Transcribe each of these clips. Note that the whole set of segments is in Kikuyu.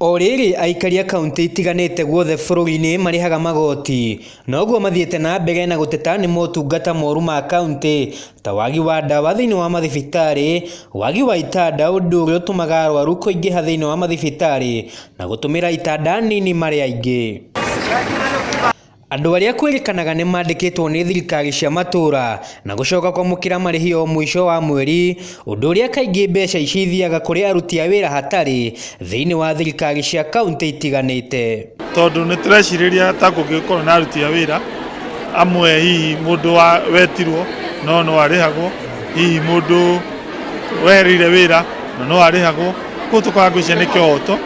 O rĩrĩ, aikari a kauntĩ itiganĩte guothe bũrũri-inĩ marĩhaga magoti, noguo mathiĩte na mbere na gũteta nĩ motungata moru ma kauntĩ, ta wagi wa ndawa thĩinĩ wa mathibitarĩ, wagi wa itanda ũndũ ũrĩa ũtũmaga arwaru kũingĩha thĩinĩ wa mathibitarĩ, na gũtũmĩra itanda nini marĩ aingĩ. Andũ arĩa kwĩrĩkanaga nĩ mandĩkĩtwo nĩ thirikari cia matũũra na gũcoka kwamũkĩra marĩhi o mũico wa mweri, ũndũ ũrĩa kaingĩ mbeca ici ithiaga kũrĩ aruti a wĩra hatarĩ thĩinĩ wa thirikari cia kaunti itiganĩte. Tondũ nĩ tũrecirĩria ta kũngĩkorwo na aruti a wĩra amwe hihi mũndũ wetirwo no no arĩhagwo, hihi mũndũ wehereire wĩra na no arĩhagwo, koguo tũkambĩrĩria nĩ kĩhoto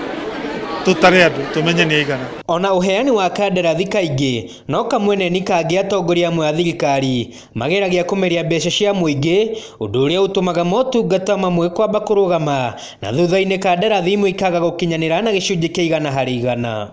tũtare andũ tũmenye nĩ aigana. O na ũheani wa kandarathi kaingĩ no kamwene nĩ kangĩ atongoria amwe a thirikari mageragia kũmeria mbeca cia mũingĩ ũndũ ũrĩa ũtũmaga motungata mamwe kwamba kũrũgama na thutha-inĩ kandarathi imwe ikaga gũkinyanĩra na gĩcunjĩ kĩa igana harĩ igana.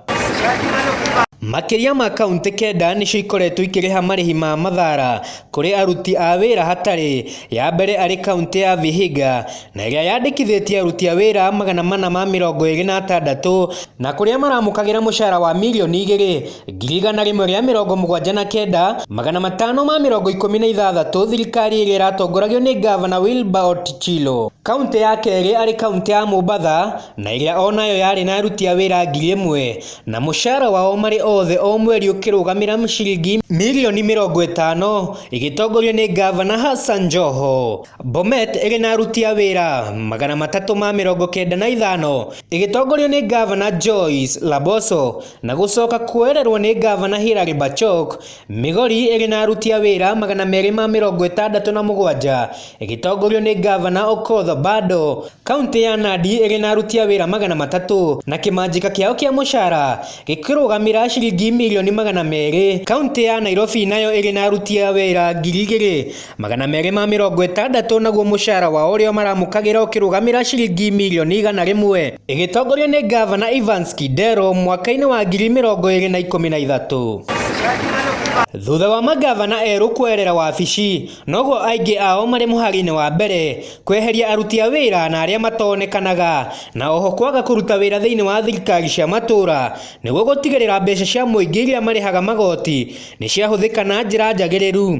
Makĩria ma kauntĩ kenda nĩcio ikoretwo ikĩrĩha marĩhi ma mathaara kũrĩ aruti a wĩra hatarĩ, ya mbere arĩ kauntĩ ya Vihiga, na ĩrĩa yandĩkithĩtie aruti a wĩra magana mana ma mĩrongo ĩrĩ na atandatũ na kũrĩa maramũkagĩra mũcara wa mirioni igĩrĩ ngiri igana rĩmwe rĩa mĩrongo mũgwanja na kenda magana matano ma mĩrongo ikũmi na ithathatũ thirikari ĩrĩa ĩratongoragio nĩ ngavana Wilbur Otichilo. Kauntĩ ya kerĩ arĩ kauntĩ ya Mombatha na ĩrĩa o nayo yarĩ na aruti a wĩra ngiri ĩmwe na mũcara wao marĩ othe o mweri ũkĩrũgamĩra ciringi mirioni mĩrongo ĩtano ĩgĩtongorio nĩ ngavana Hassan Joho. Bomet ĩrĩ na aruti a wĩra magana matatũ ma mĩrongo kenda na ithano ĩgĩtongorio nĩ Ngavana Joyce Laboso na gũcoka kuoererwo nĩ Ngavana Hilary Bachok. Migori ĩrĩ na aruti a wĩra magana merĩ ma mĩrongo ĩtandatũ na mũgwanja ĩgĩtongorio nĩ Ngavana Okoth Obado. Kauntĩ ya Nandi ĩrĩ na aruti a wĩra magana matatũ na kĩmanjĩka kĩao kĩa mũcara gĩkĩrũgamĩra ciringi mirioni magana merĩ. Kauntĩ ya Nairobi nayo ĩrĩ na aruti a wĩra ngiri igĩrĩ. Magana merĩ ma mĩrongo ĩtandatũ naguo mũcara wao ũrĩa maramũkagĩra ũkĩrũgamĩra ciringi mirioni igana rĩmwe ĩgĩtongorio nĩ Ngavana Evans Kidero mwaka-inĩ wa ngiri mĩrongo ĩrĩ na ikũmi na ithatũ. Thutha wa mangavana erũ kwerera wabici, noguo aingĩ ao marĩ mũhari-inĩ wa mbere kweheria aruti a wĩra na arĩa matonekanaga, na oho kwaga kũruta wĩra thĩinĩ wa thirikari cia matũra nĩguo gũtigĩrĩra mbeca cia mũingĩ iria marĩhaga magoti nĩ ciahũthĩka na njĩra njagĩrĩru.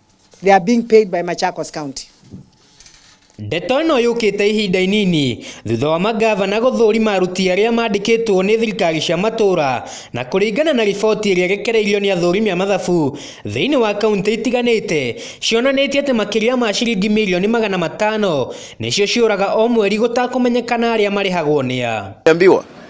They are being paid by Machakos County. Ndeto ĩno yũkĩte ihinda inini thutha wa mangavana gũthũrima aruti arĩa mandĩkĩtwo nĩ thirikari cia matũra na kũringana na riboti ĩrĩa rekereirio nĩ athũrimi a mathabu thĩinĩ wa kaunti itiganĩte cionanĩtie atĩ makĩria ma ciringi mirioni magana matano nĩcio ciũraga o mweri gũtakũmenyekana arĩa marĩhagwo nĩa. Niambiwa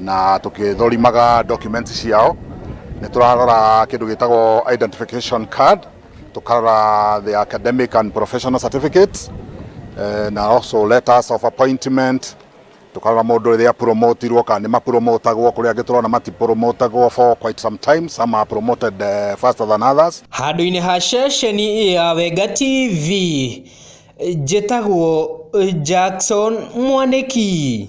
na tũkĩthorimaga document ciao nĩ tũrarora kĩndũ gĩtagwo identification card tũkarora the academic and professional certificates eh, na also letters of appointment tukarora mundu riria promotirwo kana ni mapromotagwo kuri angi turona matipromotagwo for quite some time some are promoted uh, faster than others handũ-inĩ ha ceceni ya wenga tv njĩtagwo jackson mwanĩki